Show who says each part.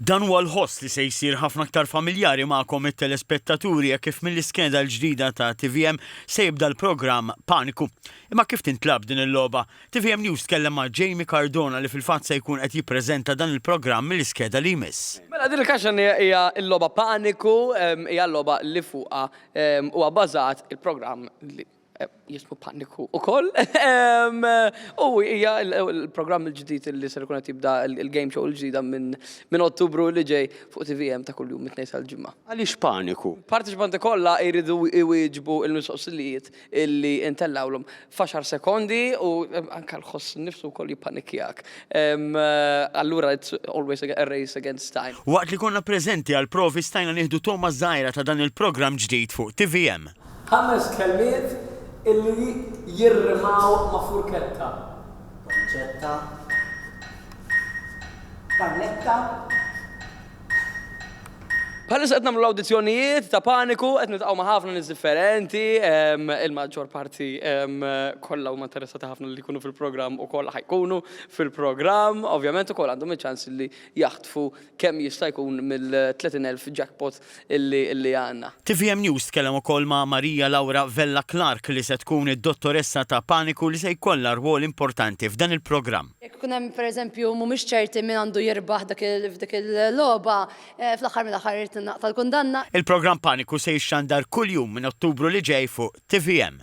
Speaker 1: Dan huwa l-ħoss li se jsir ħafna aktar familjari magħkom it-telespettaturi hekk kif mill-iskeda l-ġdida ta' tvm se jibda l-programm Paniku. Imma kif tintlagħab din il-logħba? Tvm News tkellem ma' Jamie Cardona li fil-fatt se jkun qed jippreżenta dan il-programm mill-iskeda li jmiss. Mela din il-kaxxanija
Speaker 2: hija l-logħba Paniku, hija l-logħba li fuqha huwa bbażat il-programm li. jismu paniku u koll. U hija l-programm il-ġdid li ser ikun qed jibda il-game show il-ġdida minn Ottubru li ġej fuq TVM ta' kuljum mit-tnejn sal-ġimgħa. Għaliex paniku?
Speaker 3: Partiċipanti kollha
Speaker 2: jridu jwieġbu l-mistoqsilijiet illi ntellgħulhom f'għaxar sekondi u anke l-ħoss innifsu wkoll jippanikjak. Allura it's always a race against time. Waqt li konna preżenti
Speaker 1: għall-provi stajna nieħdu togħma żgħira ta' dan il-programm ġdid fuq TVM. Ħames
Speaker 2: kelmiet illi jirrimaw ma' furketta. Pancetta.
Speaker 4: Pannetta.
Speaker 2: Bħalissa qed nagħmlu l-awdizzjonijiet ta' paniku, qed nitqgħu ma' ħafna nies differenti, ehm, il-maġġor parti ehm, kollha huma interessati ħafna li jkunu fil-programm u kollha ħajkunu fil-programm, ovvjament ukoll għandhom iċ-ċans li jaħtfu kemm jista' jkun mill-30 elf jackpot illi għandna. Tvm News tkellem
Speaker 1: ukoll ma' Maria Laura Vella Clarke li se tkun id-dottoressa ta' paniku li se jkollha rwol importanti f'dan il-programm. Jekk ikun hemm per eżempju
Speaker 5: mhumiex ċerti min għandu jirbaħ f'dik il-logħba, fl-aħħar mill-aħħar irid tingħaqta
Speaker 1: l-kundanna. Il-programm
Speaker 5: Paniku
Speaker 1: se jixxandar kuljum minn Ottubru li
Speaker 5: ġej
Speaker 1: fuq tvm.